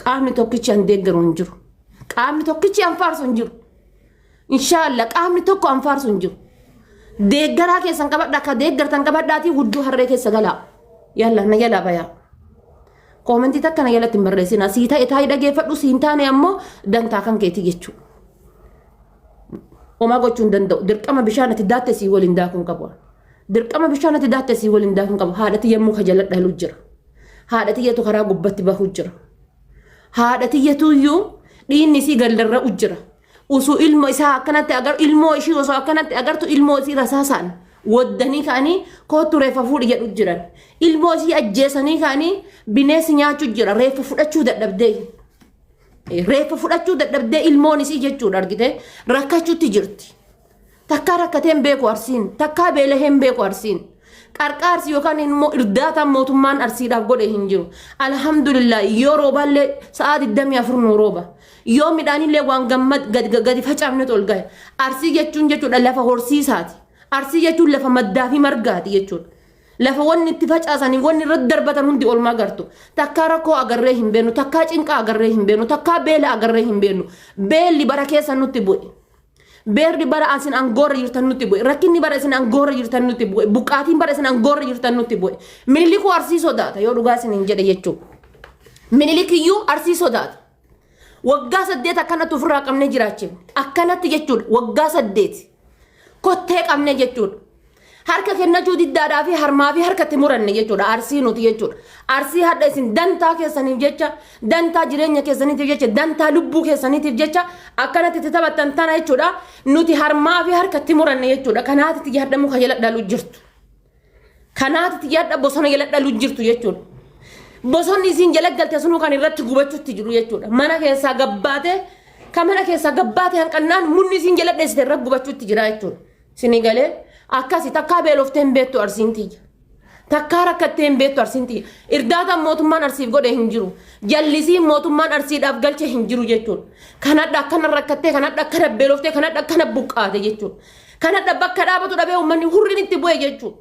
Qaamni tokkichi an deeggaru hin jiru. Qaamni tokkichi an faarsu hin jiru. Inshaallah qaamni tokko an faarsu hin jiru. Deeggaraa keessan qabadha akka deeggartan qabadhaatii hudduu harree keessa galaa. Yalla na jalaa bayaa. Koomentii takka na jalatti hin barreessinaa. Sii ta'e taa'ii dhageeffadhu sii hin taane ammoo dantaa kan keetii jechuudha. Homaa gochuu hin danda'u. Dirqama bishaan ati daatte sii waliin daakuu hin qabu. Dirqama bishaan ati daatte sii waliin daakun qaba. Haadha tiyya immoo ka jala dhalu jira. Haadha tiyyatu karaa gubbatti bahu jira. Haadha tiyyatu iyyuu dhiinni isii galdarra'u jira. Usuu ilma isaa akkanatti agar ilmoo ishii osoo akkanatti agartu ilmoo isii rasaasaan waddanii ka'anii koottu reeffa fuudhi jedhu jiran. Ilmoo isii ajjeesanii ka'anii bineensi nyaachuu jira. Reeffa fudhachuu dadhabdee. Reeffa fudhachuu dadhabdee ilmoon isii jechuudha argitee rakkachuutti jirti. Takkaa rakkatee hin beeku Arsiin. Takkaa beelahee hin beeku Arsiin. Qarqaarsi yookaan immoo irdaataan mootummaan Arsiidhaaf godhe hin jiru. Alhamdulillah yoo roobaallee sa'aa 24 nuu rooba. Yoo midhaanillee waan gammad gadi facaafnetu ol gahe. Arsii jechuun jechuudha lafa horsiisaati. Arsii jechuun lafa maddaa fi margaati jechuudha. Lafa wanni itti facaasanii wanni irratti darbatan hundi olmaa gartu. Takkaa rakkoo agarree hin beenu, takkaa cinqaa agarree hin beenu, takkaa beela agarree hin beenu. Beelli bara keessa nutti bu'e. Beerdi bara asin angoorra jirtan nutti bu'e. Rakkinni bara isin angoorra jirtan nutti bu'e. Buqqaatiin bara isin angoorra jirtan nutti bu'e. Minilikuu arsii sodaata yoo dhugaa isin hin jedhe jechuu. Minilikiyyuu arsii sodaata. Waggaa saddeet akkanatti ofirraa qabnee jiraachifne. Akkanatti jechuudha. Waggaa saddeet. Kottee qabnee jechuudha. Harka kennachuu diddaadhaa fi harmaa fi harka itti muranne jechuudha. Arsii nuti jechuudha. Arsii hadha isin dantaa keessaniif jecha, dantaa jireenya keessaniitiif jecha, dantaa lubbuu keessaniitiif jecha akkanatti itti taphattan tana jechuudha. Nuti harmaa fi harka itti muranne jechuudha. Kanaati itti yaadda muka jala dhalu jirtu. Kanaati itti yaadda bosona jala dhalu jirtu jechuudha. Bosonni isin jala galte sunuu kan irratti gubachuutti jiru jechuudha. Mana keessaa gabbaatee kan mana keessaa gabbaatee hanqannaan munni isin jala dheessite irra gubachuutti jira jechuudha. Sini galee akkasi takkaa beeloftee hin beektu arsiin tiyya. Takkaa rakkattee hin beektu arsiin tiyya. Irdaataan mootummaan arsiif godhe hin jiru. Jallisiin mootummaan arsiidhaaf galche hin jiru jechuudha. Kanadha akkana rakkattee, kanadha akkana beeloftee, kanadha akkana buqqaate jechuudha. Kanadha bakka dhaabatu dhabee uummanni hurriin itti bu'e jechuudha.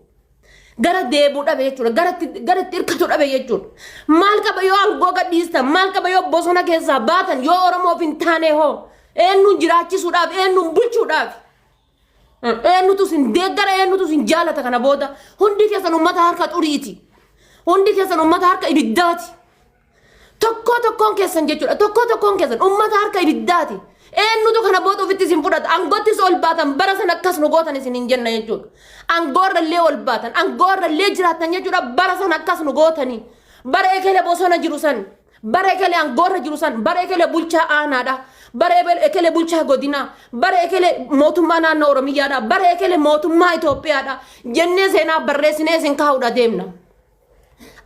Gara deebuu dhabe jechuudha. Gara itti- gara itti hirkatu dhabe jechuudha. Maal qaba yoo aangoo gadhiistan, maal qaba yoo bosona keessaa baatan, yoo Oromoof hin taane hoo? Eenyuun jiraachisuudhaaf, eenyuun bulchuudhaaf? Eenyutu sin deeggara eenyutu sin jaalata kana booda hundi keessan uummata harka xuriiti. Hundi keessan uummata harka ibiddaati. Tokkoo tokkoon keessan jechuudha. Tokkoo tokkoon keessan uummata harka ibiddaati. Eenyutu kana booda ofitti isin fudhata. Angoottis ol baatan bara sana akkas nu gootan isin hin jenna jechuudha. Angoorra illee ol baatan. Angoorra illee jiraatan jechuudha. Bara sana akkas nu gootanii. Bara eekele bosona jiru sani. Bara ekelee angoorra jiru san bara ekelee bulchaa aanaadha. Bara ebe- ekelee bulchaa godinaa. Bara ekelee mootummaa naannoo Oromiyyaadha. Bara ekelee mootummaa Itoophiyaadha. Jennee seenaa barreessinee isin kaa'uudha deemna.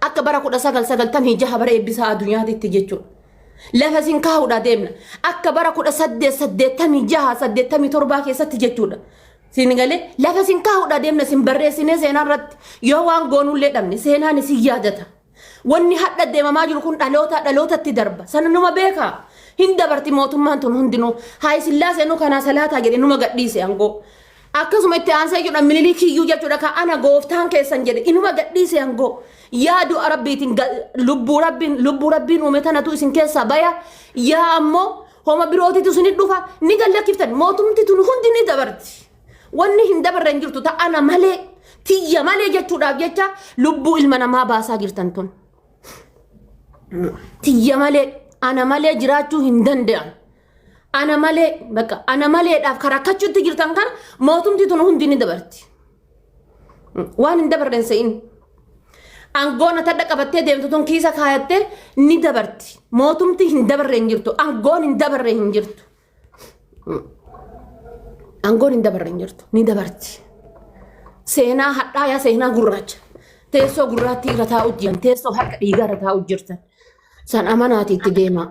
Akka bara 1996 bara eebbisaa addunyaatitti jechuudha. Lafa isin kaa'uudha deemna. Akka bara 1886 87 keessatti jechuudha. Siin galee lafa isin kaa'uudha deemna isin barreessinee seenaa irratti yoo waan goonullee dhabne seenaan isin yaadata. Wanni hadha deemamaa jiru kun dhalootaa dhalootatti darba. Sana numa beeka. Hin dabarti mootummaan tun hundinuu. Haay Sillaasee nu kanaa salaataa jedhe numa gadhiise angoo. Akkasuma itti aansee jechuudha Miniliikii iyyuu jechuudha ka ana gooftaan keessan jedhe inuma gadhiise angoo. Yaa du'a rabbiitiin ga- lubbuu rabbiin lubbuu rabbiin uume tanatu isin keessaa baya. Yaa ammoo homa birootitu isin dhufa ni gallakkiftan mootumti tun hundi ni dabarti. Wanni hin dabarre hin jirtu ta ana malee tiyya malee jechuudhaaf jecha lubbuu ilma namaa baasaa jirtan tun. Tiyya malee ana malee jiraachuu hin danda'an. Ana malee bakka ana maleedhaaf kan rakkachuutti jirtan kana mootumti tun hundi ni dabarti. Waan hin dabarre hin se'in. Aangoon ati adda qabattee deemtu tun kiisa kaayattee ni dabarti. Mootumti hin dabarre hin jirtu. Aangoon hin dabarre hin jirtu. Aangoon hin dabarre hin jirtu. Ni dabarti. Seenaa hadhaa yaa seenaa gurraacha. Teessoo gurraattii irra taa'u jiran. Teessoo harka dhiigaa irra taa'u jirtan. San amanaati itti deemaa.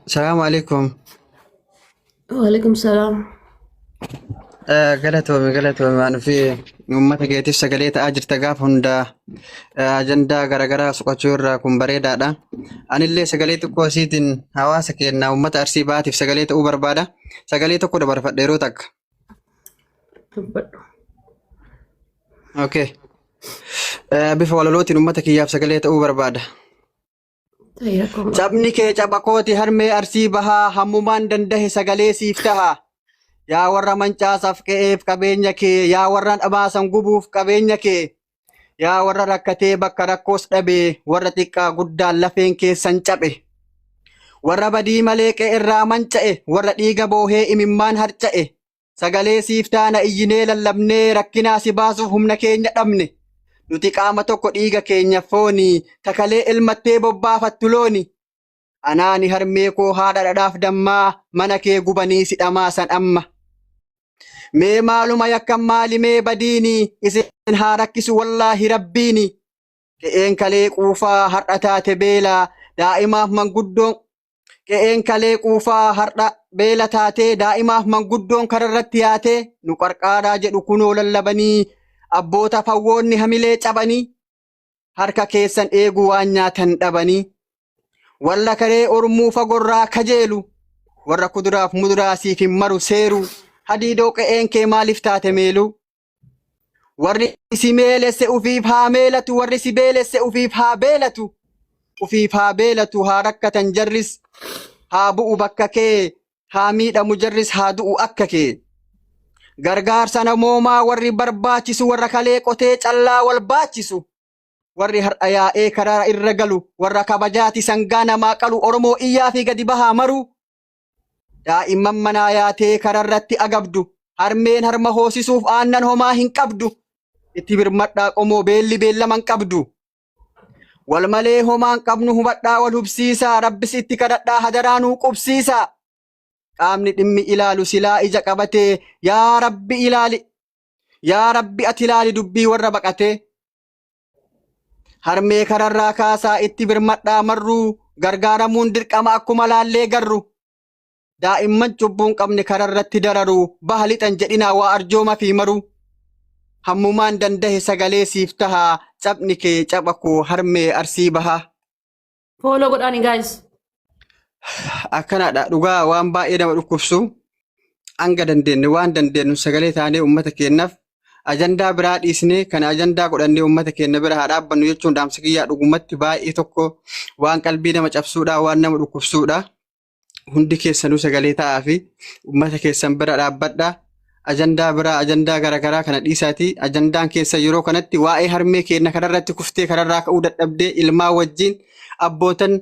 Salaamu alaikum. Waalaikum salaam. Eh, Galatoomi galatoomi waan fi uummata keetiif sagalee ta'aa jirta gaafa hundaa eh, ajandaa garaagaraa soqachuu irraa kun bareedaadha. Anillee sagalee xiqqoo isiitiin hawaasa keenya uummata arsii baatiif sagalee ta'uu barbaada. Sagalee tokko dabarfadha yeroo takka. Dubbadhu. Okay. Eh, Bifa walalootiin uummata kiyyaaf sagalee ta'uu barbaada. Tayya qomaa. Cabni kee caba kooti harmee arsii bahaa hammumaan dandahe sagalee siif taha. Yaa warra mancaasaaf qe'eef qabeenya kee, yaa warra dhamaasan gubuuf qabeenya kee, yaa warra rakkatee bakka rakkoos dhabe, warra xiqqaa guddaan lafeen keessan caphe. Warra badii malee qe'erraa manca'e, warra dhiiga boohee imimmaan harca'e, Sagalee siif taana iyyinee lallabnee rakkinaa si baasuuf humna keenya dhabne. Nuti qaama tokko dhiiga keenya fooni takalee elmattee bobbaafattu looni. Anaani harmee koo haadha dhadhaaf dammaa mana kee gubanii si dhamaasan amma. Mee maaluma yakkan maali mee badiini isin haa rakkisu wallaahi rabbiini. Qe'een kalee quufaa har'a taate beela daa'imaaf manguddoon Qe'een kalee quufaa har'a beela taatee daa'imaaf manguddoon kararratti yaatee nu qarqaaraa jedhu kunoo lallabanii abboota fawwoonni hamilee cabanii harka keessan eegu waan nyaatan dhabanii warra karee ormuu fagorraa kajeelu warra kuduraaf muduraa siif hin maru seeru hadiidoo qe'een kee maaliif taate meeluu Warri si meelesse ufiif haa meelatu, warri si beelesse ufiif haa beelatu. Ufiif haa beelatu, haa rakkatan jarris, haa bu'u bakka kee, haa miidhamu jarris, haa du'u akka kee. Gargaarsa namoomaa warri barbaachisu, warra kalee qotee callaa wal baachisu. Warri har'a yaa'ee karaa irra galu, warra kabajaati sangaa namaa qalu, Oromoo iyyaa fi gadi bahaa maruu. Daa'imman manaa yaatee kararratti agabdu. Harmeen harma hoosisuuf aannan homaa hin qabdu. Itti birmadhaa qomoo beelli beellama hin qabdu. Wal malee homaa hin qabnu hubadhaa wal hubsiisaa. Rabbis itti kadhadhaa hadaraa nuu qubsiisaa. Qaamni dhimmi ilaalu silaa ija qabatee yaa rabbi ilaali. Yaa rabbi ati ilaali dubbii warra baqatee. Harmee kanarraa kaasaa itti birmadhaa marruu gargaaramuun dirqama akkuma laallee garru. Daa'imman cubbuun qabne kanarratti dararu baha lixan jedhinaa waa arjooma fi maruu. Hammumaan dandahe sagalee siif taha caphni kee capha koo harmee arsii bahaa. Fooloo godhaani gaayis. Akkanaadha dhugaa waan baay'ee nama dhukkubsu hanga dandeenye waan dandeenyu sagalee taanee uummata keenyaaf ajandaa biraa dhiisnee kan ajandaa godhannee uummata keenya bira haa dhaabbannu jechuun dhaamsa kiyyaa dhugumatti baay'ee tokko waan qalbii nama cabsuudha waan nama dhukkubsuudha. hundi keessanuu sagalee ta'aa fi uummata keessan bira dhaabbadhaa. Ajandaa biraa ajandaa garaagaraa kana dhiisaatii ajandaan keessa yeroo kanatti waa'ee harmee keenya kanarratti kuftee kanarraa ka'uu dadhabdee ilmaa wajjin abbootan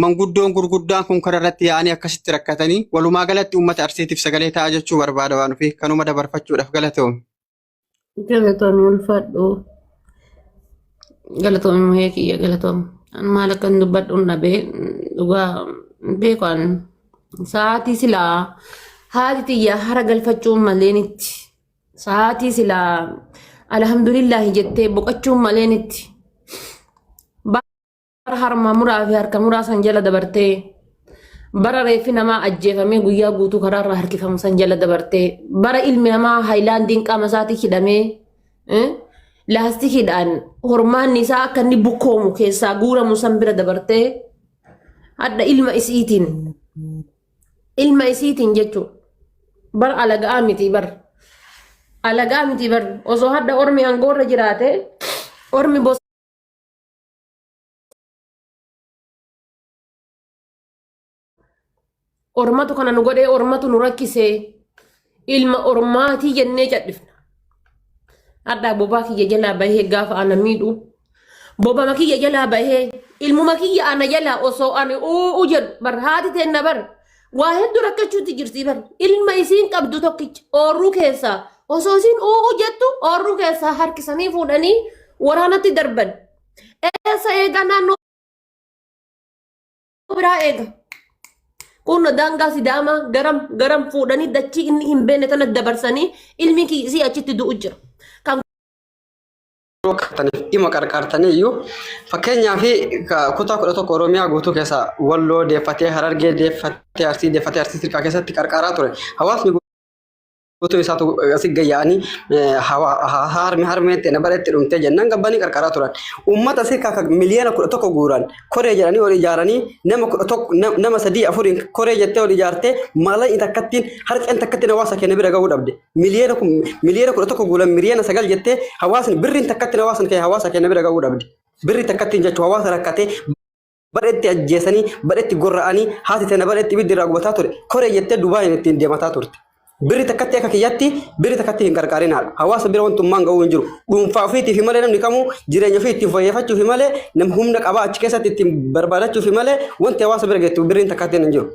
manguddoon gurguddaan kun kanarratti yaa'anii akkasitti rakkatanii walumaa galatti uummata arsiitiif sagalee ta'aa jechuu barbaada waan ofii kanuma dabarfachuudhaaf galatoom. Galatoomi ulfaadhu. Galatoomi muhee kiyya galatoomi. An maal akkan dubbadhu hin dhabee dhugaa hin beeku an sa'aatii silaa haati tiyya hara galfachuun maleen itti sa'aatii silaa alhamdulillaahi jettee boqachuun maleen itti. bara harma muraa fi harka muraa san jala dabartee bara reeffi namaa ajjeefamee guyyaa guutuu karaa irraa harkifamu san jala dabartee bara ilmi namaa haayilaandiin qaama isaatii hidhamee eh, laastikiidhaan hormaanni isaa akka inni bukkoomu keessaa guuramu san bira dabartee hadha ilma isiitiin ilma isiitiin jechuudha. bar alaga'aa miti bar alaga'aa miti bar osoo hadda ormi angoorra jiraate ormi bos Ormatu kana nu godhee ormatu nu rakkisee ilma ormaatii jennee cadhifna. Hadhaa bobaa kiyya jalaa bahee gaafa ana miidhu bobama kiyya jalaa bahee ilmuma kiyya ana jalaa osoo ani uu jedhu bar haati teenna bar Waa hedduu rakkachuutti jirti bari. Ilma isiin qabdu tokkicha oorruu keessaa osoo isiin uuu jettu oorruu keessaa harkisanii fuudhanii waraanatti darban. Eessa eegaa naannoo biraa eega. Kun daangaa sidaamaa garam garam fuudhanii dachii inni hin beekne tana dabarsanii ilmi kiisii achitti du'u jira. Kan yoo qartaniif dhima qarqaartanii iyyuu fakkeenyaa fi kutaa kudha tokko Oromiyaa guutuu keessa Walloo deeffatee Harargee deeffatee Arsii deeffatee Arsii Sirkaa keessatti qarqaaraa ture. Hawaasni guutuu isaatu asii gayyaa'anii harmee harmee ta'e bareetti dhumtee jennaan gabbanii qarqaaraa turan. Uummata Sirkaa kan miliyoona kudha tokko guuran koree jedhanii ol ijaaranii nama kudha tokko nama sadii afuriin koree jettee ol ijaartee maallaqni takkattiin harceen takkattiin hawaasa keenya bira gahuu dhabde. miliyoona kun miliyoona kudha tokko guulan miliyoona sagal jettee hawaasni birriin takkatti hawaasni kee hawaasa kee na bira ga'uu dhabde. Birri takkatti jechuun hawaasa rakkatee badhetti ajjeesanii badhetti gorra'anii haati tana badhetti ibiddi irraa gubataa ture koree jettee Dubaayin ittiin deemataa turte. Birri takkatti akka kiyyatti birri takkatti hin qarqaarinaadha. Hawaasa bira wantummaan ga'uu hin jiru. Dhuunfaa ofiitii fi malee namni kamuu jireenya ofii ittiin fayyeeffachuu fi malee nam humna qabaa achi keessatti ittiin barbaadachuu fi malee wanti hawaasa bira geettu birriin takkatti hin jiru.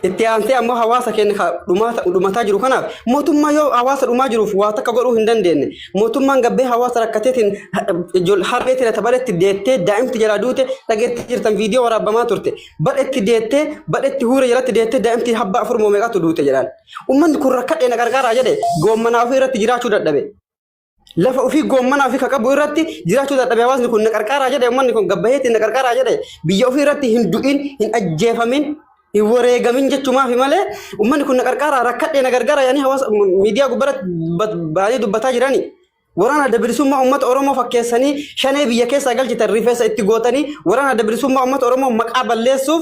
Itti aantee ammoo hawaasa keenya ka dhumaata- dhumataa jiru kanaaf mootummaa yoo hawaasa dhumaa jiruuf waa takka godhuu hin dandeenye mootummaan gabbee hawaasa rakkateetiin ijol- harree tirata badhetti deettee daa'imti jalaa duute dhageetti jirtan viidiyoo waraabamaa turte badhetti deettee badhetti huure jalatti deettee daa'imti habbaa afur moo meeqatu duute jedhaan ummanni kun rakkadhee na gargaaraa jedhe goommanaa ofii irratti jiraachuu dadhabe. Lafa ofii goommanaa fi kaqabu irratti jiraachuu dadhabe hawaasni kun na qarqaaraa jedhe uummanni kun gabbaheetti na qarqaaraa jedhe biyya ofii irratti hin du'in hin ajjeefamin hin wareegamin jechumaafi malee uummanni kun na qarqaaraa rakkadhee na gargaara yaanii hawaasa miidiyaa gubbaratti baay'ee dubbataa jirani. Waraana adda bilisummaa uummata Oromoo fakkeessanii shanee biyya keessaa galchitan rifeensa itti gootanii waraana adda bilisummaa uummata Oromoo maqaa balleessuuf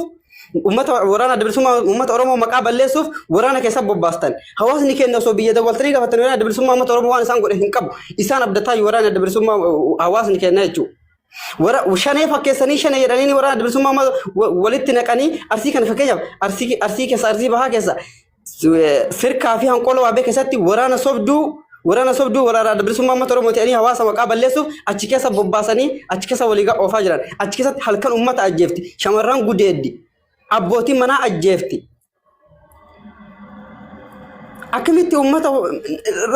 Uummata waraana adda bilisummaa uummata Oromoo maqaa balleessuuf waraana keessa bobbaastan. Hawaasni keenya osoo biyya dawwaltanii gaafatan waraana adda bilisummaa uummata Oromoo waan isaan godhe hin qabu. Isaan abdataa waraana adda bilisummaa hawaasni keenya jechuudha. Wara shanee fakkeessanii shanee jedhanii waraana adda bilisummaa uummata walitti naqanii arsii kana fakkeenyaaf arsii arsii keessa arsii bahaa keessa firkaa fi hanqoola waabee keessatti waraana sobduu waraana sobduu waraana bilisummaa uummata Oromoo ta'anii hawaasa maqaa balleessuuf achi keessa bobbaasanii achi keessa walii ga- oofaa jiran. Achi keessatti halkan uummata ajjeefti. Shamarran gudeeddi. Abbootiin manaa ajjeefti. Akkamitti uummata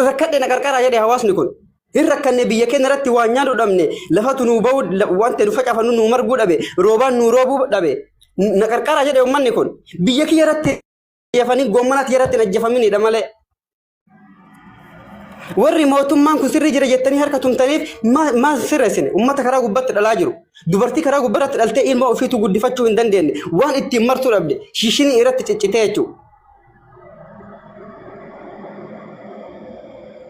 rakkadhe na qarqaraa jedhe hawaasni kun. Hin rakkanne biyya keenya irratti waan nyaadhu dhabne lafatu nuu ba'uu la- waan ta'e nu facaafannu nuu marguu dhabe roobaan nuu roobuu dhabe na qarqaraa jedhe uummanni kun. Biyya kiyya irratti ajjeefanii gommana tiyaratti hin ajjeefaminidha malee. Warri mootummaan kun sirrii jira jettanii harka tumtaniif maal sirreessine? Uummata karaa gubbatti dhalaa jiru. Dubartii karaa gubbarratti dhaltee ilma ofiitu guddifachuu hin dandeenye. Waan ittiin martuu dhabde shiishinii irratti ciccitee jechuudha.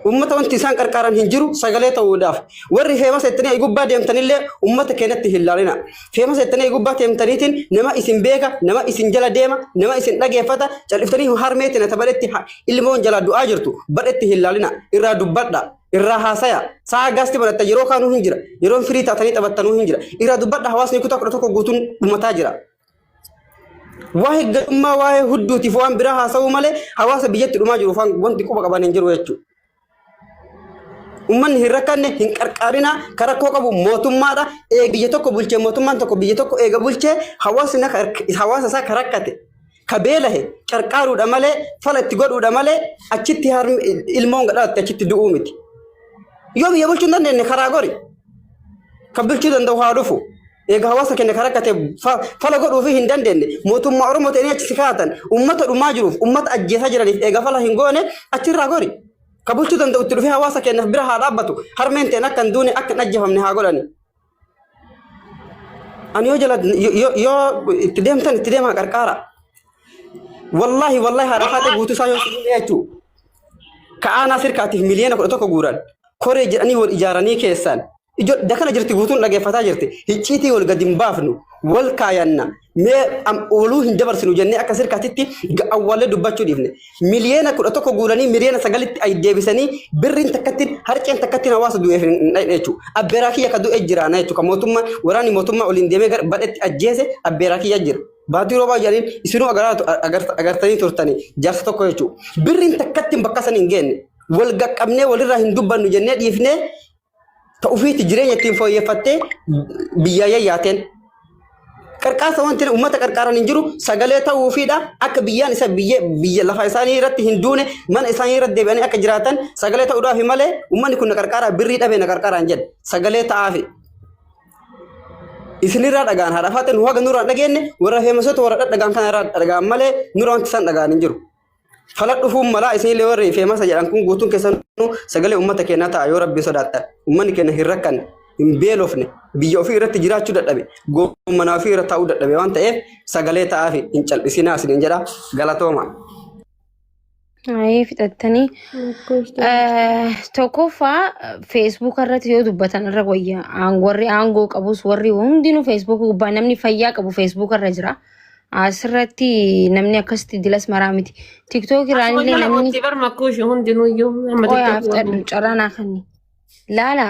Uummata wanti isaan qarqaaran hin jiru sagalee ta'uudhaaf. Warri feemasa ittanii gubbaa deemtanillee uummata keenyatti hin laalina. Feema seettanii gubbaa teemtaniitiin nama isin beeka, nama isin jala deema, nama isin dhageeffata, cal'iftanii harmee tana ta badhetti ha- ilmoon jalaa du'aa jirtu badhetti hin laalina, irraa dubbadha, irraa haasaya. Sa'a gaasti banatta yeroo kaanuu hin jira, yeroon firii taatanii taphattanuu hin jira. Irraa dubbadha hawaasni kutaa kudha tokko guutuun dhumataa jira. Waa'ee gadummaa, waa'ee hudduutiif waan biraa haasa'uu malee hawaasa biyyatti dhumaa jiruuf waan- wanti quba qaban hin jiru jechuudha. Ummanni hin rakkanne hin qarqaarinaa kan rakkoo qabu mootummaadha. Ee biyya tokko bulchee mootummaan tokko biyya tokko eega bulchee hawaasni na- hawaasa isaa ka rakkate ka beelahe qarqaaruudha malee fala itti godhuudha malee achitti harmi ilmoon gadhaatti achitti du'uu miti. Yoo biyya bulchuu hin dandeenye karaa gori kan bulchuu danda'u haa dhufu. Eega hawaasa keenya ka rakkate fa- fala godhuufi hin dandeenye mootummaa Oromoo ta'anii achi si kaa'atan uummata dhumaa jiruuf uummata ajjeesaa jiraniif eega fala hin goone achirraa gori. Ka bulchuu danda'u itti dhufee hawaasa keenyaaf bira haa dhaabbatu harmeen ta'een akka hin duune akka hin ajjeefamne haa godhani. Ani yoo jala yo- yo- yoo itti deemtan itti deemaa qarqaara. Wallaahi wallaahi haadha haadha guutuu isaa yoo sibiila jechuu. Ka aanaa sirkaatiif miliyoona kudha tokko guuran koree jedhanii wal ijaaranii keessan Ijo dakana jirti guutuun dhageeffataa jirti. Hicciitii wal gadi hin baafnu. Wal kaayanna. Mee am- waluu hin dabarsinu jennee akka sirkaatitti ga- awwaallee dubbachuu dhiifne. Miliyeena kudha tokko guuranii miliyeena sagalitti ay deebisanii birriin takkattiin harceen takkattiin hawaasa du'eef hin hin dhayne jechuudha. Abbeeraa kiyya ka du'e jiraana jechuudha. Kan mootummaa waraanni mootummaa oliin deemee gara badhetti ajjeese abbeeraa kiyya jira. Baatii roobaa jedhaniin isinuu agaraatu agar- agartanii turtanii jaarsa tokko jechuudha. Birriin takkattiin bakka san hin geenne. Wal gaqqabnee walirraa hin dubbannu jennee dhiifnee ta ufiitti jireenya ittiin fooyyeffattee biyyaa yayyaateen qarqaarsa wanti uummata qarqaaran hin jiru sagalee ta'uufiidha akka biyyaan isa biyya biyya lafa isaanii irratti hin duune mana isaanii irratti deebi'anii akka jiraatan sagalee ta'uudhaaf malee uummanni kun na qarqaaraa birrii dhabee na qarqaaraan jedhe sagalee ta'aafi. Isinirraa dhagaan haadha faaxee nu haga nurraa hin dhageenye warra feemasoota warra dhadhagaan kanarraa dhagaan malee nurraa wanti isaan dhagaan hin jiru. Fala dhufuun malaa isinillee warri feemasa jedhan kun guutuun keessanuu sagalee uummata keenyaa ta'a yoo rabbii sodaattan. Uummanni keenya hin rakkanne, hin beelofne, biyya ofii irratti jiraachuu dadhabe, goommanaa ofii irra taa'uu dadhabe waan ta'eef sagalee ta'aafi hin cal'isinaa isiniin jedha galatooma. Ayee fixattanii tokkoffaa feesbuuk irratti yoo dubbatan irra wayya Aan- warri aangoo qabus warri hundinuu feesbuuk gubbaa namni fayyaa qabu feesbuuk irra jira. Asirratti namni akkasitti dilas maraa miti. Tiktook irraan Akkuma illee jala namni kootti bar makkuushi hundinuyyuu amma qoyaa tiktookii waan fudhadhu carraa naa kenni. Laala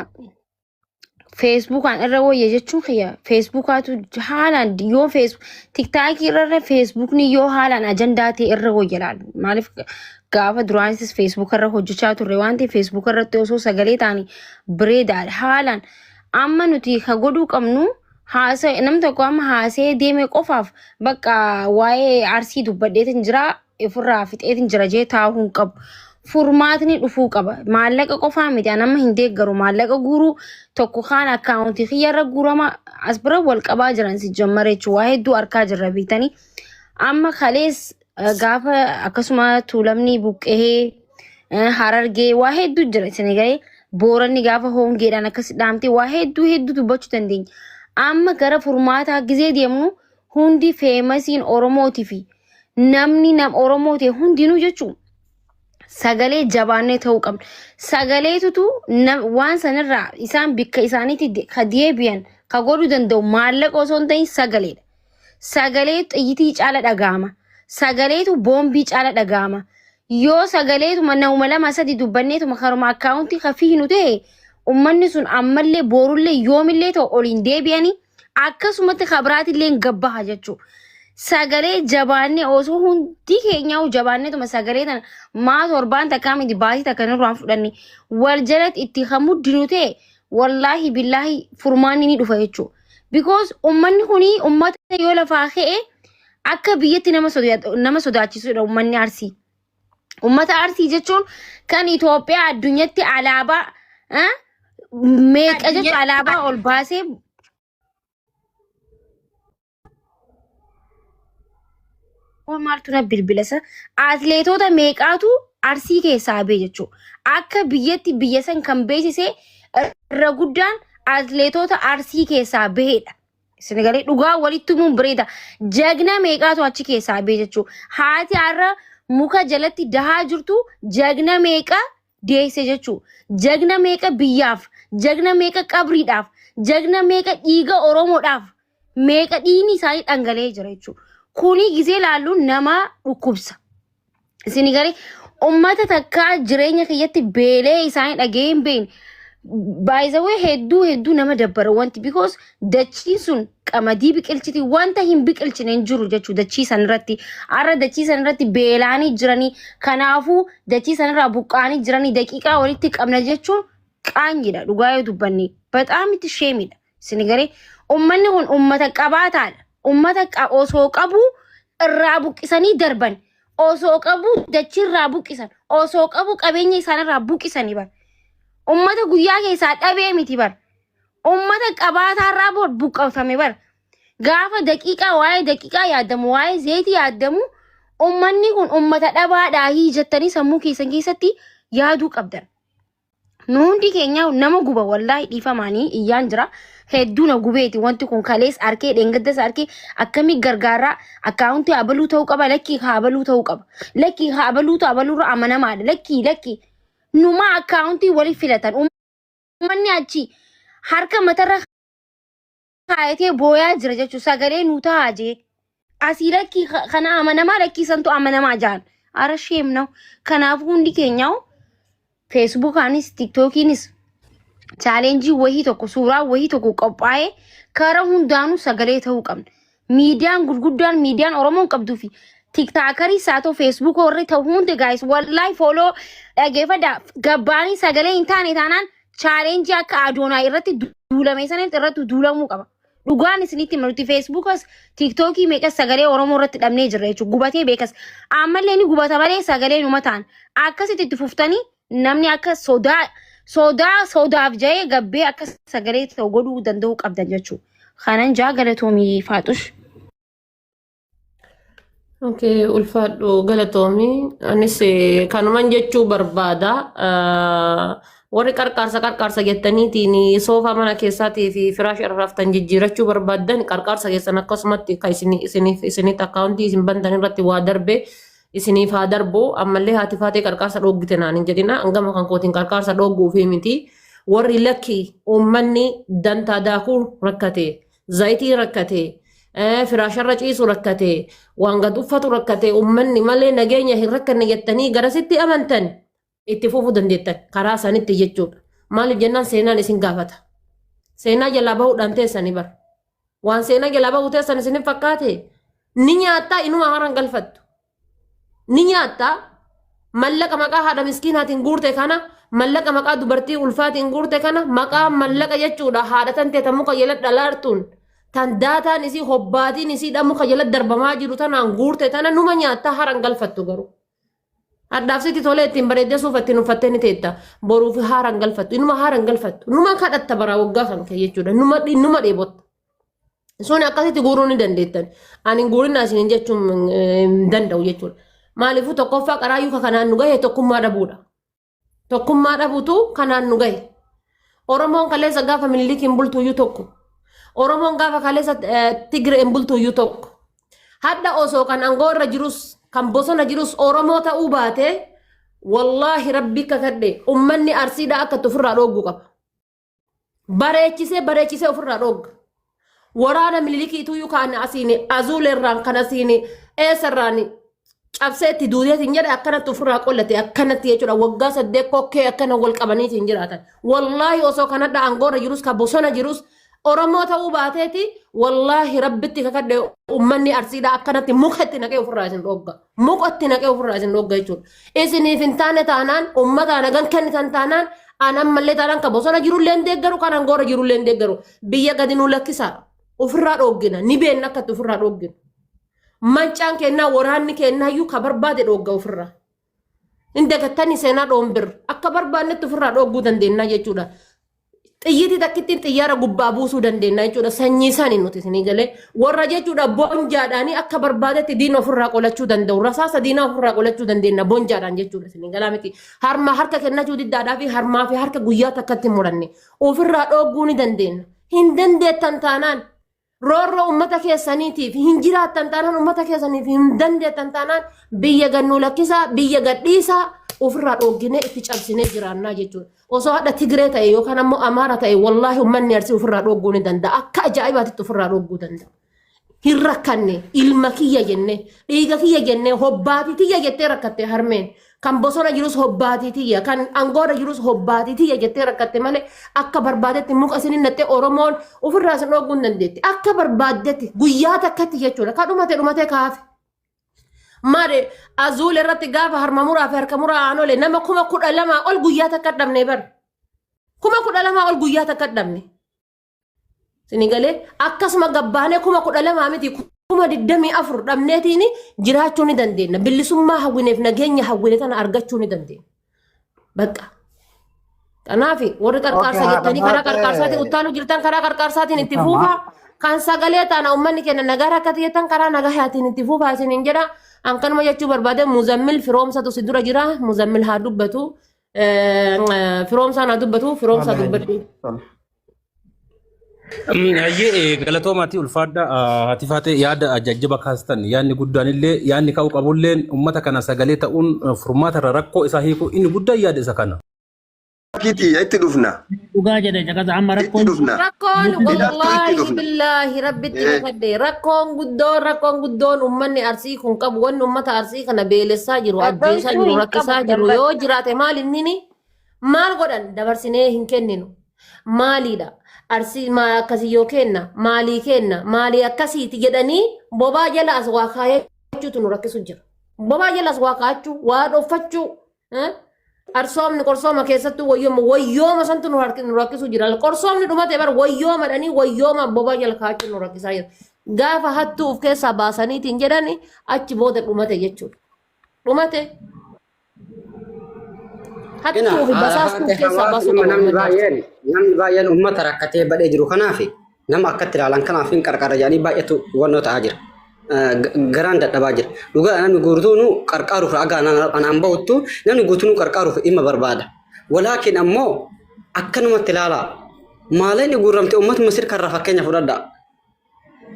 feesbuukaan irra wayya jechuun kiyya feesbuukaatu haalaan yoo feesbuuk tiktaakii irra feesbuukni yoo haalaan ajandaa ta'e irra wayya laala. Maaliif gaafa duraanis feesbuuk irra hojjechaa turre waan ta'eef feesbuuk irratti osoo sagalee taane bireedaadha haalaan amma nuti ka godhuu qabnu haasa nam tokko amma haasee deeme qofaaf bakka waa'ee arsii dubbadheetin jira ofirraa fixeetin jira jee taa'uu hin qabu. Furmaatni dhufuu qaba. Maallaqa qofaa miti an amma hin deeggaru maallaqa guuruu tokko kaan akkaawuntii kiyyarra guurama as bira wal qabaa jiran si jammara jechuun waa hedduu arkaa jirra beektanii. Amma kalees Eh, Gaafa akkasuma tuulamni buqqee eh, harargee waa hedduu jira isin gahee booranni gaafa hoongeedhaan akkas dhaamte waa hedduu hedduu dubbachuu dandeenya. Amma gara furmaataa gizee deemnu hundi feemasiin Oromootii fi namni nam Oromoo ta'e hundinuu jechuun sagalee jabaannee ta'uu qabna. Sagaleetutu nam- waan sanarraa isaan bikka isaaniitti de- ka deebi'an ka godhuu danda'u maallaqa osoo hin ta'in sagaleedha. sagalee xiyyitii caala dhaga'ama. Sagaleetu boombii caala dhaga'ama. Yoo sagaleetuma nauma lama sadi dubbanneetuma karuma akkaawuntii kan fiignu ta'e ummanni sun ammallee boorullee yoomillee ta'u oliin deebi'anii akkasumatti kabiraatillee gabbaha jechuu. Sagalee jabaannee osoo hundi keenyaa'u jabaanneetuma sagalee tana maa torbaan takkaa miti baasii takka nurraan fudhanne wal jalatti itti kan muddinu ta'e wallaahi billaahi furmaanni ni dhufa jechuudha. Because ummanni kuni ummata yoo lafaa ka'e akka biyyatti nama sodaa- nama sodaachisudha ummanni Arsii. Ummata Arsii jechuun kan Itoophiyaa addunyatti alaabaa eh, meeqa jechuun alaabaa ol baasee Kun maaltu na bilbila sa atleetoota meeqaatu arsii keessaa bee jechuu akka biyyatti biyya san kan beeksise irra guddaan atleetoota arsii keessaa baheedha. Isin galee dhugaa walitti humuun bareeda jagna meeqaatu achi keessaa bee jechuu haati har'a muka jalatti dahaa jirtu jagna meeqa deesse jechuu jagna meeqa biyyaaf jagna meeqa qabriidhaaf jagna meeqa dhiiga oromoodhaaf meeqa dhiigni isaanii dhangala'ee jira jechuudha. Kuni gisee laallu nama dhukkubsa. Isin garee uummata takkaa jireenya keessatti beelee isaanii dhaga'ee hin beekne. Baay'isawwan hedduu hedduu nama dabbara wanti because dachiin sun qamadii biqilchiti wanta hin biqilchine hin jiru jechuu dachii san irratti har'a dachii san irratti beelaanii jiranii kanaafuu dachii san irraa buqqaanii jiranii daqiiqaa walitti qabna jechuun qaanyidha dhugaa yoo dubbanne bataamitti sheemidha. Isin garee ummanni kun ummata qabaataadha. Ummata qa- osoo qabu irraa buqqisanii darban. Osoo qabu dachii irraa buqqisan. Osoo qabu qabeenya isaanirraa buqqisanii bar. Ummata guyyaa keessaa dhabee miti bar. Ummata qabaataarraa bu- buqqifame bar. Gaafa daqiiqaa waa'ee daqiiqaa yaadamu waa'ee zeetii yaadamu ummanni kun ummata dhabaadhaa hii jettanii sammuu keessan keessatti yaaduu qabdan. nu hundi keenya nama guba wallaahi dhiifamaanii iyyaan jira hedduu na gubeeti wanti kun kalees arkee dheengaddas arkee akkamii gargaaraa akkaawuntii abaluu ta'uu qaba lakkii haa abaluu ta'uu qaba lakkii haa abaluutu abaluurra amanamaadha lakkii lakkii numaa akkaawuntii waliif filatan uummanni achi harka matarra kaayatee booyaa jira jechuun sagalee nuu taa'aa jee. Asii lakkii ka- kana amanamaa lakkii santu amanamaa jaan. Ara sheem na'u. Kanaaf hundi keenyaa feesbuukaanis tiktookiinis chaalenjii wahii tokko suuraa wahii tokko qophaa'ee karaa hundaanuu sagalee ta'uu qabna. Miidiyaan gurguddaan miidiyaan Oromoon qabduu fi tiktaakarii isaa ta'u feesbuukoo irra ta'u hundi gaayis wallahi fooloo dhageeffadha gabbaanii sagalee hin taane taanaan challenge akka Adoonaa irratti duulame sana irratti duulamuu qaba. Dhugaan isinitti hima nuti Feesbuukas Tiiktookii meeqas sagalee Oromoo irratti dhabnee jirra jechuudha. Gubatee beekas. Ammallee ni gubata malee sagalee numa ta'an. Akkasitti itti fuftanii namni akka sodaa sodaa sodaaf ja'ee gabbee akka sagalee ta'u godhuu danda'uu qabdan jechuudha. Kanan jaa galatoomii faaxush. Okay, ulfaadhu galatoomi. Anis eh, kanuman jechuu barbaada. Ah, Warri qarqaarsa qarqaarsa jettaniitiin soofaa mana keessaatii fi firaash irra raftan jijjiirachuu barbaaddan qarqaarsa keessan akkasumatti kan isin isiniif isinitti akkaawuntii isin bantan irratti waa darbe isiniif haa darbu ammallee haati faatee qarqaarsa dhooggite naan hin jedhina hangama kan kootiin qarqaarsa dhoogguu fi miti warri lakki uummanni dantaa daakuu rakkate Zayitii rakkate, eh, firaasharra ciisu rakkate, waan gad uffatu rakkate, ummanni malee nageenya hin rakkanne jettanii garasitti amantan itti fufuu dandeettan karaa isaanitti jechuudha. Maaliif jennaan seenaan isin gaafata. Seenaa jalaa bahuudhaan teessanii bara. Waan seenaa jalaa bahuu teessan isin hin fakkaate ni nyaattaa inuma haaraan galfattu. ni nyaatta mallaqa maqaa haadha miskiinaatiin guurte kana mallaqa maqaa dubartii ulfaatiin guurte kana maqaa mallaqa jechuudha haadha tan teeta muka jala dhalaartuun tan daataan isii hobbaatiin isiidha muka jala darbamaa jiru tanaan guurte tana numa nyaatta haran galfattu garuu. Hadhaaf sitti tolee ittiin bareeddee suufa ittiin uffattee ni teetta. Boruuf haaran galfattu. Inuma haaran galfattu. Numa kadhatta baraa waggaa kan kee jechuudha. Numa numa dheebotta. Sun akkasitti guuruu ni dandeettan. Ani guurinaa isin jechuun hin danda'u jechuudha. Maaliifuu tokkoffaa qaraayyuu kanaan nu gahe tokkummaa dhabuudha. Tokkummaa dhabuutu kanaan nu gahe. Oromoon kaleessa gaafa minilikiin bultuuyyuu tokko. Oromoon gaafa kaleessa Tigireen bultuuyyuu tokko. Hadda osoo kan aangoo irra jirus kan bosona jirus Oromoo ta'uu baatee wallaahi rabbi kakadhe ummanni arsiidhaa akka itti ofirraa dhoogguu qaba. bareechisee bareechisee ofirraa dhoogga. Waraana minilikiituu kan asiin azuulerraan kan asiin eessarraan cabsee itti duuteet hin jedhe akkanatti ofirraa qollate akkanatti jechuudha waggaa saddeet kokkee akkana wal qabaniiti hin jiraatan. Wallaahi osoo kanadha aangoorra jirus ka bosona jirus Oromoo ta'uu baateeti wallaahi rabbitti kakadhe uummanni arsiidha akkanatti muka itti naqee ofirraa isin dhoogga. Muka itti naqee ofirraa isin dhoogga jechuudha. Isiniif hin taane taanaan uummataa nagan kennitan taanaan an ammallee taanaan kan bosona jirullee hin deeggaru kan angoora jirullee hin deeggaru biyya gadi nuu lakkisaa ofirraa dhooggina ni beenna akkatti ofirraa dhooggina. Mancaan kennaa waraanni kennaa iyyuu ka barbaade dhoogga ofirraa. Hin dagattanii seenaa dhoombir akka barbaannetti ofirraa dhoogguu dandeenya jechuudha. Xiyyitii takkittiin xiyyaara gubbaa buusuu dandeenya jechuudha. Sanyii isaanii nuti isinii galee warra jechuudha bonjaadhaanii akka barbaadetti diina ofirraa qolachuu danda'u. Rasaasa diinaa ofirraa qolachuu dandeenya bonjaadhaan jechuudha isinii galaa miti. Harma harka kennachuu diddaadhaa fi harmaa fi harka guyyaa takkatti muranne ofirraa dhoogguu ni dandeenya. Hin dandeettan taanaan Roorroo uummata keessaniitiif hin jiraattan taanaan uummata keessaniif hin dandeettan taanaan biyya gannuu lakkisaa biyya gadhiisaa ofirraa dhoogginee itti cabsinee jiraannaa jechuudha. Osoo hadha Tigree ta'e yookaan ammoo Amaara ta'e wallaahi uummanni arsii ofirraa dhoogguu ni danda'a. Akka ajaa'ibaatitti ofirraa dhoogguu danda'a. Hin rakkanne ilma kiyya jennee dhiiga kiyya jennee hobbaati kiyya jettee rakkattee harmeen Kan bosona jirus hobbaatii tiyya, kan angoorra jirus hobbaatii tiyya jettee rakkatte malee akka barbaadetti muka isin hin dhattee Oromoon ofirraa isin dhooguu hin dandeetti. Akka barbaaddetti guyyaa takkatti jechuudha. Kan dhumate dhumatee kaafe. Maali azuul irratti gaafa harma muraa fi harka muraa aanolee nama kuma kudha lamaa ol guyyaa takka dhabne bara. Kuma kudha lamaa ol guyyaa takka dhabne. Sinigalee akkasuma gabbaanee kuma kudha lamaa miti kuma digdamii afur dhabneetiin jiraachuu ni dandeenya. Bilisummaa hawwineef nageenya hawwine kana argachuu ni dandeenya. Bakka. Kanaaf warri qarqaarsa Okay, jettanii karaa haadha qarqaarsaatiin taate- uttaalu jirtan karaa qarqaarsaatiin itti Dhiifama. fuufaa. Kan sagalee taana uummanni keenya nagaa rakkate jettan karaa nagahaatiin itti fuufaa isin hin jedha. An kanuma jechuu barbaade muzammil firoomsatu si dura jira. Muzammil haa dubbatu. Eh, Firoomsaan haa dubbatu. Firoomsaa dubbadhu. Tole. Hayyee galatoomaati ulfaadha haati faatee yaada jajjaba kaastan yaadni guddaan illee yaadni ka'uu qabu illee uummata kana sagalee ta'uun furmaata irra rakkoo isaa hiikuu inni guddaan yaada isa kana. Kiti itti dhufna. Dhugaa jedhe caqasa amma Itti rakkoon dhufna. Rakkoon Hidhattuu itti wallaahi dhufna. billaahi rabbitti Eh. kakadde rakkoon guddoon rakkoon guddoon ummanni arsii kun qabu wanni ummata arsii kana beelessaa jiru Rakkoon ajjeesaa sun jiru hin rakkisaa qabu, jiru darbata. yoo jiraate maal innini Maal godhan dabarsinee hin kenninu. Maaliidha arsii maa akkasii yoo kenna maalii kenna maalii akkasiiti jedhanii bobaa jala as waa kaayachuutu nu rakkisu jira. Bobaa jala as waa kaayachuu waa dhoffachuu eh, arsoomni qorsooma keessattuu wayyooma wayyooma santu nu harki- nu rakkisu jira. Qorsoomni dhumate bar wayyoomadhanii wayyooma bobaa jala kaayachuu nu rakkisaa jira. Gaafa hattuu of keessaa baasaniitiin jedhani achi booda dhumate jechuudha. Dhumate Hattuu fi basaastuu keessaa baasuu qabu. Namni baay'een namni baay'een uummata rakkatee badhee jiru kanaaf nama akkatti ilaalan kanaaf hin qarqara jedhanii baay'eetu hubannoo ta'aa jira. Garaan dadhabaa jira. Dhugaa namni guutuun qarqaaruuf ragaa anaan bahuttu namni guutuun qarqaaruuf dhimma barbaada. Walaakin ammoo akkanumatti ilaalaa. Maaleen guurramte uummatuma sirkarraa fakkeenya fudhadhaa.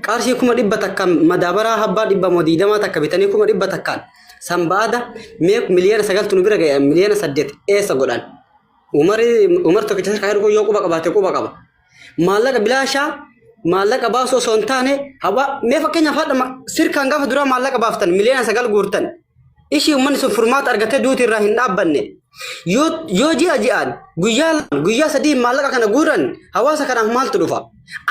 qarshii kuma dhibba takka madaabaraa habbaa dhibba moo diidamaa takka bitanii kuma dhibba takkaan san baada mee miliyoona sagaltu nu bira ga'e miliyoona saddeet eessa godhan umari umar tokkicha sarkaa erguu yoo quba qabaate quba qaba maallaqa bilaashaa maallaqa baasuu osoo hin taane haba mee fakkeenyaaf haadha ma- sirkaan gaafa duraa maallaqa baaftan miliyoona sagal guurtan Ishii uummanni sun furmaata argatee duuti irraa hin dhaabbanne. Yoo yoo ji'a ji'aan guyyaa lamaan, guyyaa sadii maallaqa kana guuran hawaasa kanaaf maaltu dhufa?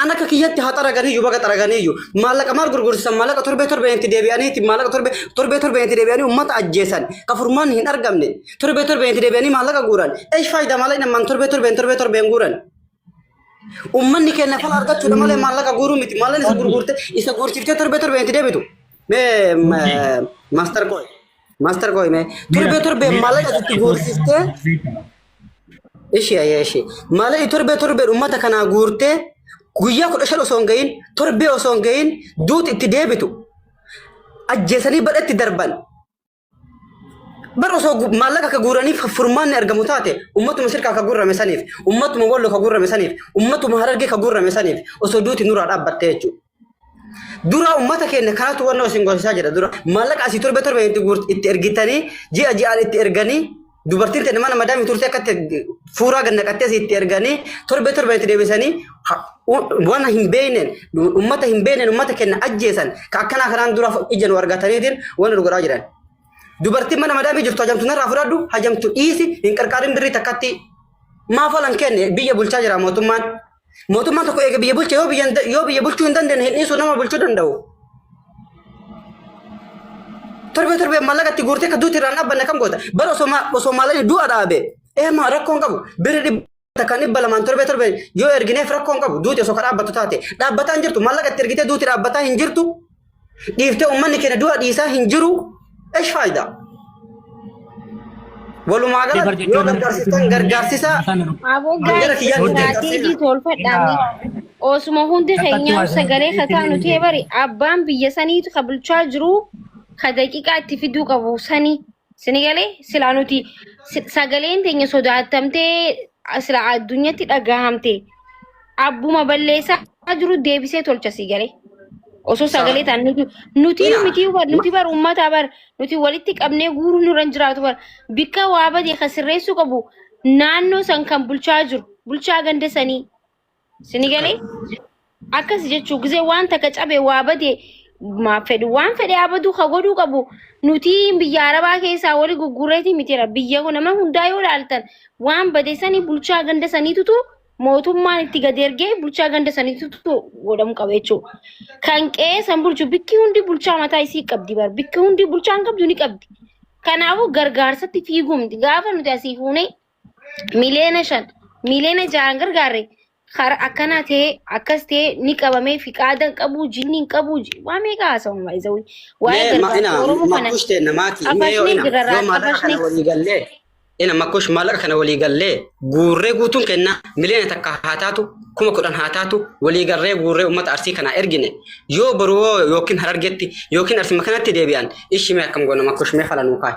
An akka kiyyatti haa xaraganiyyuu baga xaraganiyyuu maallaqa maal gurgursisan maallaqa torbee torbeen itti deebi'aniiti maallaqa torbee torbee torbeen itti deebi'anii uummata ajjeesan ka furmaan hin argamne torbee torbeen itti deebi'anii maallaqa guuran eesh faayidaa maallaqa nammaan torbee torbeen torbee torbeen guuran. Uummanni keenya fala argachuudha malee maallaqa guuruu miti. Maallan isa gurgurte isa guursiftee torbee torbee itti deebitu. Mee maaster kooy. Maaster kooy mee torbee torbee maallaqa itti guursiftee ishi ayyee ishi maallaqa torbee torbee uummata kanaa guurtee guyyaa kudha shan osoo hin gahin torbee osoo hin gahin duuti itti deebitu. Ajjeesanii badhatti darban. Bar osoo gu- maallaqa akka guuraniif furmaanni argamu taate ummatuma sirkaa akka guurame saniif ummatuma wallo akka guurame saniif ummatuma harargee akka guurame saniif osoo duuti nuraa dhaabbatte jechuudha. Dura ummata keenya kanatu wanna isin gorsisaa jira dura maallaqa asii torbe torbe itti guurt- itti ergitanii ji'a ji'aan itti erganii Dubartiin tana mana madaamii turte akka itti fuuraa gad naqattee si itti erganii torbee torbee itti deebisanii ha- u- waan hin beekneen uummata hin beekneen uummata kenna ajjeesan ka akkanaa kanaan dura ija nu argataniitiin waan nu godhaa jiran. Dubartiin mana madaamii jirtu hajamtu narraa fudhadhu hajamtu dhiisi hin qarqaarin birrii takkatti maaf olan kenne biyya bulchaa jira mootummaan. Mootummaan tokko eega biyya bulche yoo biyya hin da- yoo biyya bulchuu hin dandeenye hin dhiisu nama bulchuu danda'u. Torbee torbee maallaqa itti guurtee kan duuti irraan dhaabbanne kam goota? Bara osoo ma- osoo maallaqni du'a dhaabe eema rakkoo hin qabu. Birri dhibba takka dhibba lamaan torbee torbee yoo ergineef rakkoo hin qabu. Duuti osoo kan dhaabbattu taate dhaabbataa hin jirtu maallaqa itti ergitee duuti dhaabbataa hin jirtu. dhiiftee ummanni keenya du'a dhiisaa hin jiru esh faayidaa walumaa Deebar galatti yoo jechuun- gargaarsitan gargaarsisa Aboo Gara gaa'eessa kiyyaa nuti istiraateejii taasifna. tolfadhaame. Osuma hundi keenyaa sagalee kataa nu ta'e bari abbaan biyya saniitu ka bulchaa jiru ka daqiiqaa itti fiduu qabu sani. Sini galee silaa nuti si- sagaleen teenya sodaattamtee sila addunyatti dhagahamte abbuma balleessaa jiru deebisee tolcha si galee. Osoo Sa- sagalee ta'an nuti nuti Ina- miti bar nuti bar uummataa bar nuti walitti qabnee guuruu nurra hin jiraatu bar bakka waa badee kan sirreessuu qabu naannoo san kan bulchaa jiru bulchaa ganda sanii Sini galee akkas jechuu gisee waan takka cabe waa bade maaf fedhu waan fedhe haa baduu ka godhuu qabu nuti biyya arabaa keessaa wali guggureeti mitira biyya kun nama hundaa yoo ilaaltan waan bade sanii bulchaa ganda saniitutu mootummaan itti gad ergee bulchaa ganda saniitutu godhamu qaba jechuu kan qe'ee san bulchu bikki hundi bulchaa mataa isii qabdi bar bikki hundi bulchaan qabdu ni qabdi kanaafuu gargaarsatti fiiguu miti gaafa nuti asii fuunee miliyoona shan miliyoona ja'aan gargaarre kara akkanaa ta'ee akkas ta'ee ni qabamee fiqaadan qabu jinni hin qabu ji- waa meeqa haasa'u maayizawii waa'ee Mee ma- gargaarsa ina oromoo kana makkush teenna maatii mee yoo xafashni ina jirarraa yoo maallaqa kana xafashni walii gallee ina makkush maallaqa kana walii gallee guurree guutuun kenna miliyoona takka haa taatu kuma kudhan haa taatu walii gallee guurree uummata arsii kanaa ergine yoo boruu yookiin harargetti yookiin arsii kanatti deebi'an ishii mee akkam goona makkush mee fala nuu kaa'i.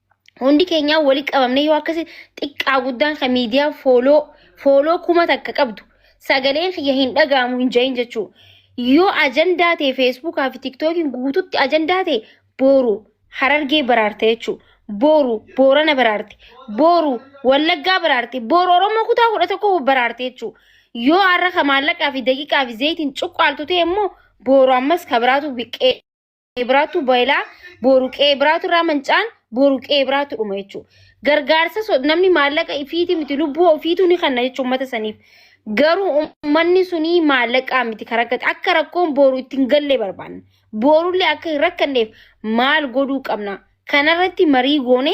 hundi keenyaa wali qabamne yoo akkasi xiqqaa guddaan kan miidiyaa fooloo fooloo kuma takka qabdu sagaleen kiyya hin dhaga'amu hin jahin jechuu yoo ajandaa ta'e feesbuukaa fi tiktookiin guututti ajandaa ta'e booru harargee baraarte jechuu booru boorana baraarte booru wallaggaa baraarte booru oromoo kutaa kudha tokko baraarte jechuu yoo har'a ka maallaqaa fi daqiiqaa fi zayitiin cuqqaaltu ta'e immoo booru ammas ka biraatu biqqee biraatu boyilaa boru qe'ee biraatu irraa mancaan boru qe'ee biraatu dhuma jechuudha. Gargaarsa so- namni maallaqa ifiiti miti lubbuu ofiitu ni kenna jechuudha uummata saniif. Garuu uummanni suni maallaqaa miti kan rakkate akka rakkoon boru itti hin galle barbaanna. Borullee akka hin rakkanneef maal godhuu qabna? Kanarratti marii goone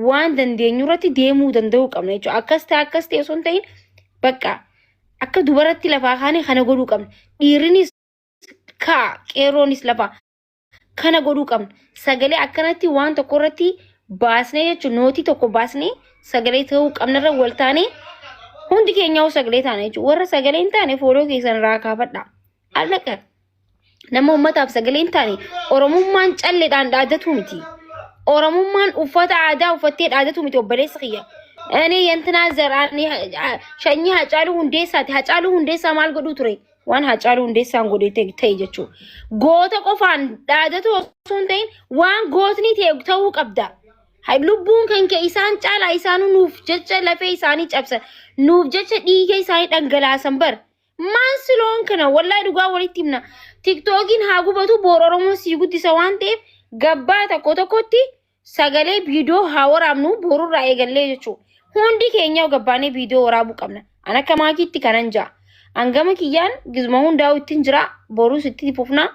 waan dandeenyu irratti deemuu danda'uu qabna jechuudha. Akkas ta'e akkas ta'e osoo hin ta'in bakka akka dubaratti lafaa kaane kana godhuu qabna. Dhiirrinis kaa qeerroonis lafa kana godhuu qabna. Sagalee akkanatti waan tokko irratti baasnee jechuun nootii tokko baasnee sagalee ta'uu qabna irra wal taanee hundi keenyaa sagalee taana jechuudha. Warra sagalee hin taane fooloo keessan irraa kaafadha. Allaqa. Nama uummataaf sagalee hin taane Oromummaan calleedhaan dhaadatu miti. Oromummaan uffata aadaa uffattee dhaadatu miti obboleessa kiyya. Ani yantinaa zaraan shanyii Hacaaluu Hundeessaati. Hacaaluu Hundeessaa maal godhuu ture? waan Haacaaluu Hundeessaan godhe ta'e ta'e jechuudha. Goota qofaan dhaadatu osoo hin ta'in waan gootni ta'e ta'uu qabda. Hay- Lubbuun kan ka'e isaan caalaa isaanuu nuuf jecha lafee isaanii cabsan nuuf jecha dhiiga isaanii dhangalaasan bar. Maan siloon kana wallahi dhugaa walitti himna. Tiktookiin haa gubatu boor Oromoo sii guddisa waan ta'eef gabbaa tokko tokkotti sagalee viidiyoo haa waraabnu boorurraa eegallee jechuudha. Hundi keenya gabbaanee viidiyoo waraabuu qabna. An akka maakiitti kanan ja'a. Hangama kiyyaan gizuma hundaa'u ittiin jira. Boruus itti fufna.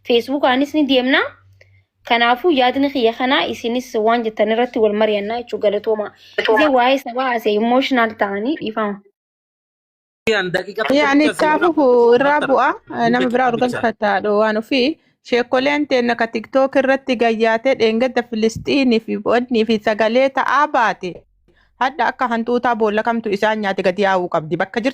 Feesbuukaanis ni deemna. Kanaafuu yaadni kiyya kanaa isinis waan jettan irratti wal mari'annaa jechuudha galatooma. Isin waa'ee sabaa asee imooshinaal ta'anii dhiifama. Kiyyaan daqiiqa tokko Yaani bicha siif kaafuuf lafa irraa master bu'aa eh, nama bicha biraa tokko bicha. urganfataa dhowwaan ofii sheekoleen teenna ka tiktook irratti gayyaatee dheengadda filistiinii fi bo'odnii fi sagalee ta'aa baate hadha akka hantuutaa boolla kamtu isaan nyaate gadi yaa'uu qabdi bakka jirtu